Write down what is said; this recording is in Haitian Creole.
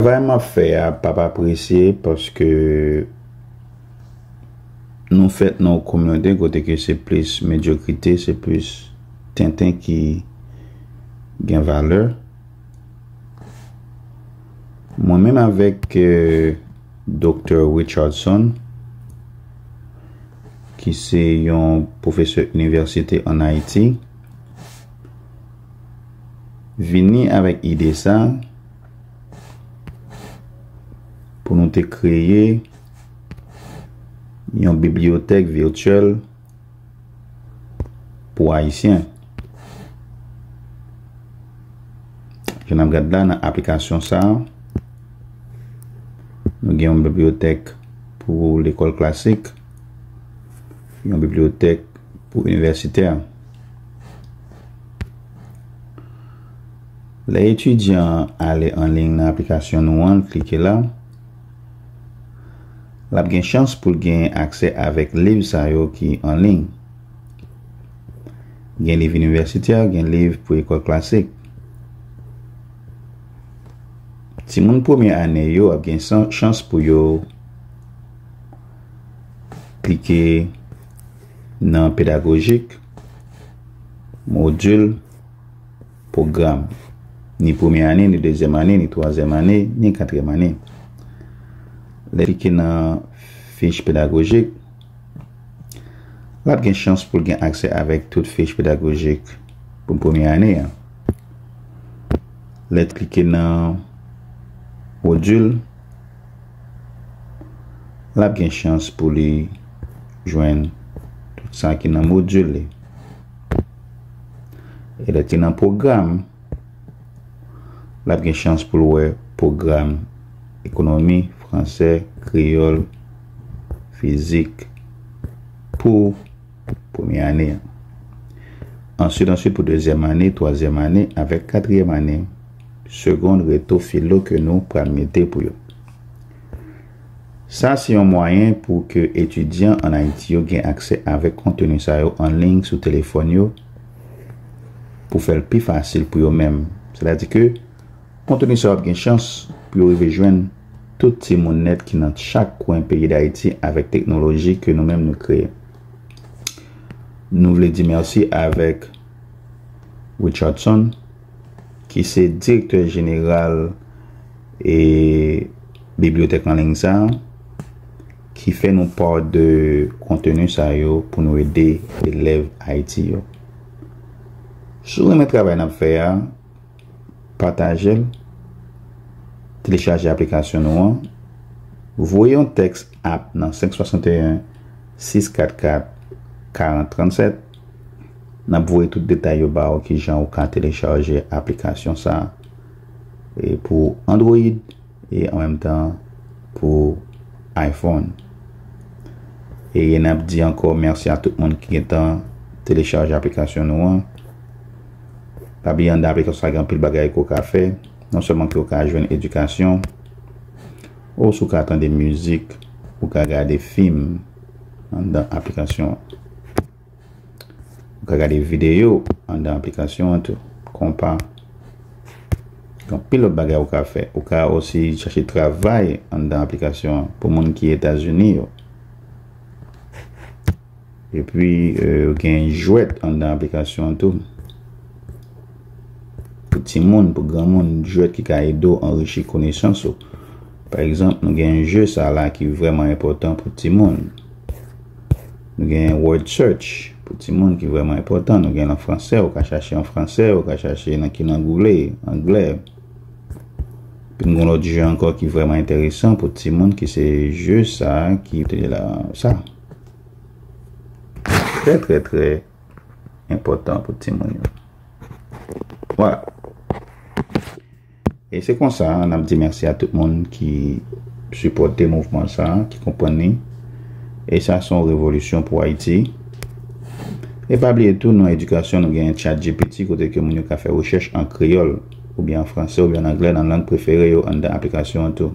Travay map fè a pap apresye paske nou fèt nan yon kominote kote ke se plis medyokrite, se plis tenten ki gen valè. Mwen menm avèk Doktè Richardson ki se yon pwofesè inivèsite an Ayiti, vini avèk ide sa pou nou te kreye yon bibliyotèk virtyèl pou Ayisyen. Jan n ap gad la nan aplikasyon sa, nou gen yon bibliyotèk pou lekòl klasik, yon bibliyotèk pou inivèsitè. Lè etidyan an ale anliy nan aplikasyon nou an, l klike la, l ap gen chans pou l genyen aksè avèk liv sa yo ki anliy. Gen liv inivèsitè, gen liv pou ekòl klasik. Timoun premye ane yo ap gen chans pou yo klike nan pedagojik. Modul, Pwogram, Ni premye ane, ni dezyèm ane, ni twazyèm ane, ni katriyèm ane. Lè klike nan fich pedagojik, lap gen chans pou l gen aksè avèk tout fich pedagojik pou premye ane an. Lè klike nan Modul, l ap gen chans pou li jwenn tout sa ki nan modil li. E lè ki nan pwogram, l ap gen chans pou l wè pwogram ekonomi, fransè, kreyòl, fizik pou premye ane an. Answit, answit pou dezyèm ane, twazyèm ane avèk katriyèm ane. Segond reto filo ke nou pral mete pou yo. Sa se yon mwayen pou ke etidyan an Ayiti yo gen aksè avèk konteni sa yo an liy sou telefòn yo pou fè l pi fasil pou yo menm. Sètadi ke konteni sa yo ap gen chans pou yo rive jwenn tout timoun nèt ki nan chak kwen peyi Dayiti avèk teknoloji ke nou menm nou kreye. Nou vle di mèsi avèk Richardson. ki se direktè jeneral e bibliyotèk anliy sa a, ki fè nou pa de konteni sa yo pou nou ede elèv Ayiti yo. Si w renmen travay n ap fè a, pataje l, telechaje aplikasyon nou an, voye yon tèks app nan 561 644 40 37. Nap voye tout detay yo ba ou kijan ou ka telechaje aplikasyon sa pou Android e an menm tan pou iPhone. E nap di ankò mèsi a tout moun ki gentan telechaje aplikasyon nou an. Pa bliye andan aplikasyon sa gen anpil bagay ke ou ka fè, non sèlman ke ou ka jwenn edikasyon. Ou sou ka tande mizik, ou ka gade fim anndan aplikasyon an. Ou ka gade videyo anndan aplikasyon an tou, konpa. Gen anpil lòt bagay ou ka fè. Ou ka osi chache travay anndan aplikasyon an pou moun ki Etazini yo. E pi gen jwèt anndan aplikasyon an tou. Pou timoun, pou granmoun, jwèt ki ka ede w anrichi konesans ou. Pa egzanp, nou gen je sa la ki vrèman enpòtan pou timoun. Nou gen word search pou timoun ki vrèman enpòtan. Nou gen l an fransè, ou ka chache an fransè, ou ka chache nan ki lang ou vle, anglè. Pi m gen yon lòt je ankò ki vrèman enteresan pou timoun ki se je sa ki te la sa. Trè trè trè enpòtan pou timoun yo. Wala. E se konsa an ap di mèsi a tout moun ki supòte mouvman sa, ki konprann ni. E sa son revolisyon pou Ayiti. E pa bliye tou nan edikasyon nou gen chat GPT kote ke moun yo ka fè rechèch an kreyòl ou byen an franse ou byen an angle nan lang prefere yo anndan aplikasyon an tou.